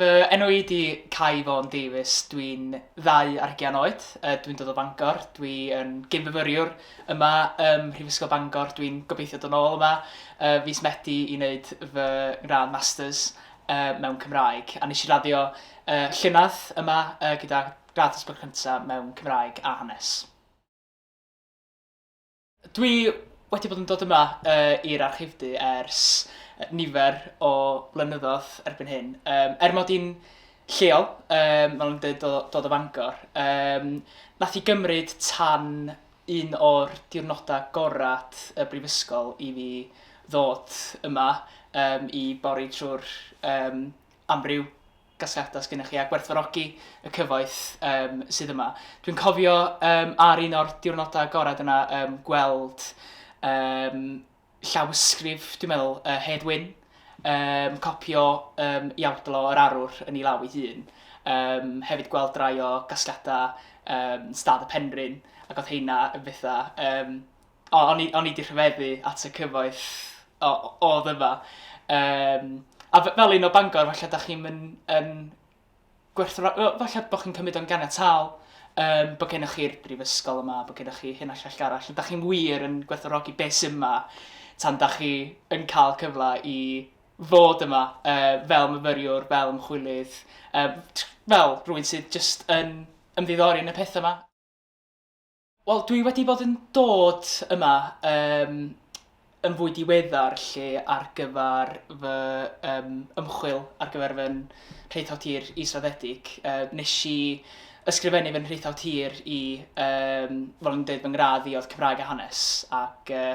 Fy enw i ydi Cai Fôn Davies, dwi'n 2 ar hugian oed, yy dwi'n dod o Fangor, dwi yn gyn-fyfyriwr yma ym Mhrifysgol Bangor, dwi'n gobeithio dod nôl yma yy fis Medi i wneud fy ngradd Masters yy mewn Cymraeg, a nes i raddio yy llynedd yma yy gyda gradd dosbarth cynta mewn Cymraeg a Hanes. Dwi wedi bod yn dod yma i'r Archifdy ers nifer o flynyddoedd erbyn hyn. Yym er mod i'n lleol, yym fel o'n i'n dweud dod o Fangor, yym wnaeth hi gymryd tan un o'r diwrnodau gorau y brifysgol i fi ddod yma yym i bori trwy'r yym amryw gasgliadau sgennych chi a gwerthfawrogi y cyfoeth yym sydd yma. Dwi'n cofio um, ar un o'r diwrnodau agored yna um, gweld um, llawysgrif, dwi'n meddwl, uh, Hedd Wyn, um, copio um, Iawdlo yr Arwr yn ei law ei hun. Um, hefyd gweld rai o gasgliadau um, Stad y Penrhyn, ac oedd heina yn bethau um, O, o'n i, o'n i di rhyfeddu at y cyfoeth o, o ddyfa. Um, a fel un o Bangor, falle da chi'n mynd yn gwerthfa... Falle bod chi'n cymryd o'n ganiataol um, bod gennych chi'r brifysgol yma, bod gennych chi hyn a llall arall. Da chi'n wir yn gwerthorogi beth sy'n yma tan da chi yn cael cyfle i fod yma uh, fel myfyriwr, fel ymchwilydd, uh, fel rhywun sydd jyst yn ymddiddori yn y pethau yma. Wel dwi wedi bod yn dod yma yym yn fwy diweddar 'lly ar gyfer fy yym ymchwil ar gyfer fy nhraethawd tir israddedig. Yy wnes i ysgrifennu fy nhraethawd tir i yym fel o'n i'n deud fy ngradd i oedd Cymraeg a Hanes ac yy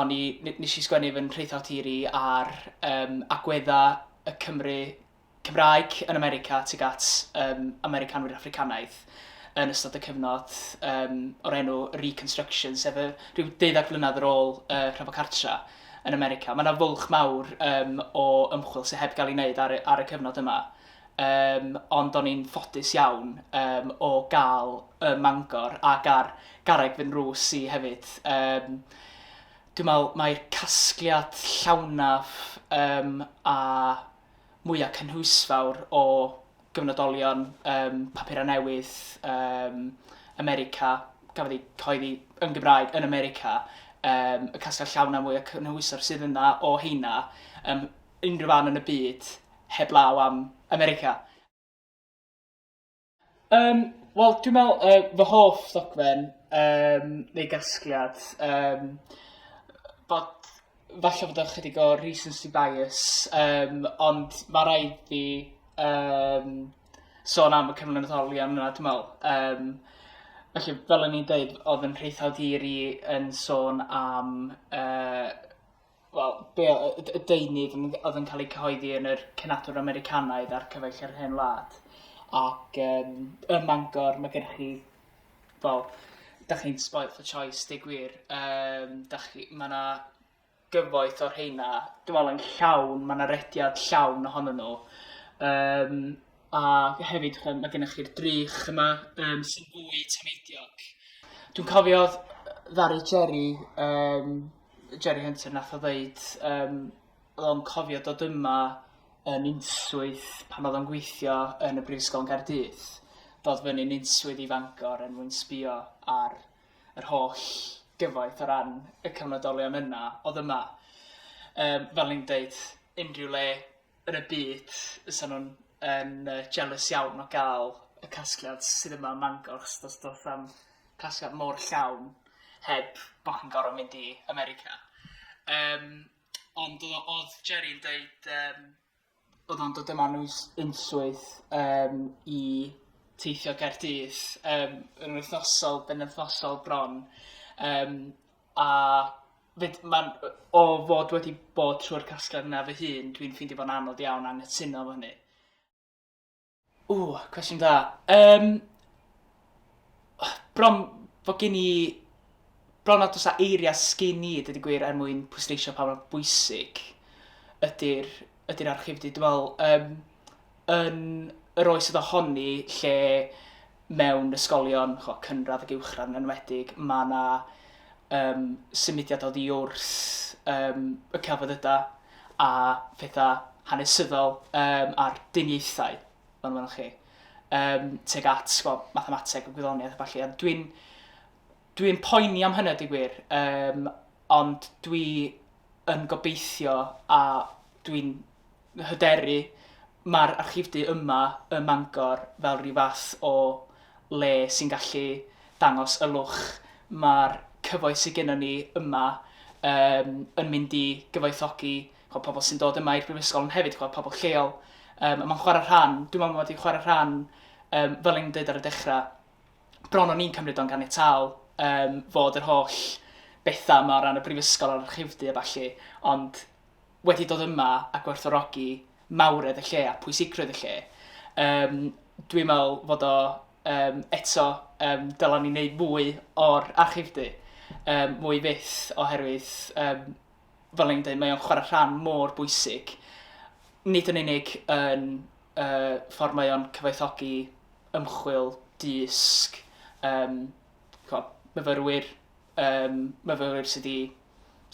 o'n i... n- wnes i sgwennu fy nhraethawd tir i ar yym agweddau y Cymry Cymraeg yn America tuag at yym Americanwyr Affricanaidd yn ystod y cyfnod yym o'r enw Reconstruction sef y rhyw deuddeg mlynedd ar ôl y Rhyfel Cartra yn America. Mae 'na fwlch mawr yym o ymchwil sydd heb gael ei wneud ar y ar y cyfnod yma yym ond o'n i'n ffodus iawn yym o gael ym Mangor ac ar garreg fy nrws i hefyd yym dwi'n meddwl mai'r casgliad llawnaf yym a mwya' cynhwysfawr o gyfnodolion ym mhapurau newydd ym America, gafodd eu cyhoeddi yn Gymraeg yn America, ym y casgliad llawn a mwya' cynhwysfawr sydd yna o heina ym unrhyw fan yn y byd, heblaw am America. Um, Wel, dwi'n meddwl, uh, fy hoff ddogfen, um, neu gasgliad, um, bod, falle bod o'n chydig o recency bias, um, ond mae rhaid fi um, sôn am y cyflwynoddolion yna, dwi'n meddwl. Um, felly, fel o'n i'n dweud, oedd yn rheithawd hir i yn sôn am uh, wel, be' o- y y deunydd m- o'dd yn ca'l ei cyhoeddi yn yr Cenadwr Americanaidd a'r Cyfaill yr Hen Wlad ac yym ym Mangor ma' gennych chi wel, 'dach chi'n spoilt for choice deu gwir yym 'dach chi ma' 'na gyfoeth o rheina dwi me'wl yn llawn ma' 'na rediad llawn ohonyn nhw yym A hefyd ch'mo' ma' gennych chi'r drych yma yym sy'n fwy tameidiog. Dwi'n cofio ddaru Jerry yym Jerry Hunter nath o ddeud yym o'dd o'n cofio dod yma yn unswydd pan o'dd o'n gweithio yn y Brifysgol yn Gaerdydd, dod fyny'n unswydd i Fangor er mwyn sbïo ar yr holl gyfoeth o ran y cyfnodolion yna o'dd yma. Yym fel o'n i'n deud unrhyw le yn y byd fysa nhw'n yn yy jealous iawn o ga'l y casgliad sydd yma ym Mangor achos do's do's na'm casgliad mor llawn heb bo' chi'n gor'o' mynd i America. Yym ond o- odd Jerry yn deud yym bod o'n dod yma am uns- unswydd yym i teithio Gaerdydd yym yn wythnosol benwthnosol bron yym A 'fyd ma'n yy o fod wedi bod trwy'r casgliad yna fy hun dwi'n ffeindio fo'n anodd iawn anghytuno efo hynny. Ww, cwestiwn da. Yym, bron fod gen i... Bron nad oes 'na eiriau sgin i, dweud y gwir, er mwyn pwysleisio pa mor bwysig ydy'r ydy'r archifdy. Dwi'n meddwl, yym, yn yr oes oedd ohoni lle mewn ysgolion, ch'mo' cynradd ac uwchradd yn enwedig, ma' 'na um, symudiad oddi wrth um, y celfyddydau a phethau hanesyddol um, a'r duniaethau, fel yma chi, um, teg at ch'mo' mathemateg a gwyddoniaeth a falle. Dwi'n dwi poeni am hynna, di gwir, um, ond dwi yn gobeithio a dwi'n hyderu, mae'r archifdy yma ym Mangor fel rhyw fath o le sy'n gallu dangos y lwch mae'r cyfoeth sydd gennym ni yma yym yn mynd i gyfoethogi chibod pobl sy'n dod yma i'r Brifysgol ond hefyd chibod pobl lleol. Yym a mae'n chwarae rhan, dwi'n meddwl mod i'n chwarae rhan yym fel o'n i'n deud ar y dechrau, bron o'n i'n cymryd o'n ganiataol yym fod yr holl bethau yma o ran y Brifysgol a'r archifdy a ballu ond wedi dod yma a gwerthfawrogi mawredd y lle a pwysigrwydd y lle. Yym, dwi'n meddwl fod o, um, eto, um, dylen ni wneud mwy o'r archifdy, um, mwy fyth, oherwydd, um, fel ni'n dweud, mae o'n chwarae rhan mor bwysig, nid yn unig yn uh, ffordd mae o'n cyfoethogi ymchwil, dysg, um, myfyrwyr, Yym, myfyrwyr sydd 'di...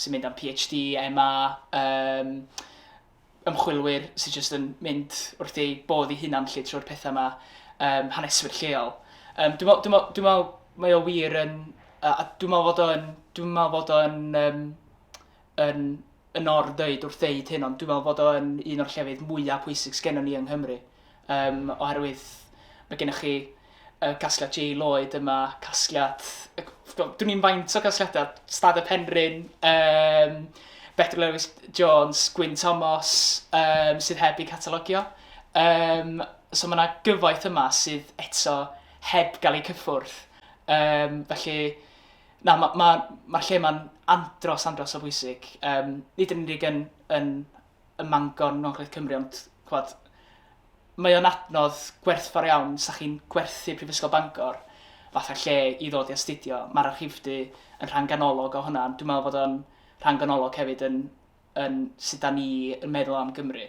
sy'n mynd am PhD, MA, yym, ymchwilwyr sydd jyst yn mynd wrth eu bodd eu hunan 'lly trwy'r pethau 'ma, yym, haneswyr lleol. Yym, dwi'n meddwl... dwi'n meddwl... dwi'n meddwl mae o wir yn... a dwi'n meddwl fod o yn... dwi'n meddwl fod o yn yym yn yn or ddeud wrth ddeud hyn ond dwi'n meddwl fod o yn un o'r llefydd mwyaf pwysig sgennym ni yng Nghymru yym oherwydd mae gennych chi y casgliad J Lloyd yma, casgliad y- gwybod, dwn i'n faint o gasgliadau, Stad y Penrhyn, um, Betr Lewis Jones, Gwyn Thomas, um, sydd heb eu catalogio. Um, so mae yna gyfoeth yma sydd eto heb gael eu cyffwrdd. Um, felly, Na, mae'r ma, ma, ma lle mae'n andros, andros o bwysig. Um, nid yn unig yn, yn, yn Mangon, Nongledd Cymru, ond chwad, mae o'n adnodd gwerthfawr iawn sa chi'n gwerthu Prifysgol Bangor fatha lle i ddod i astudio. Mae'r archifdy yn rhan ganolog o hwnna, ond dwi'n meddwl bod o'n rhan ganolog hefyd yn, yn sut da ni yn meddwl am Gymru.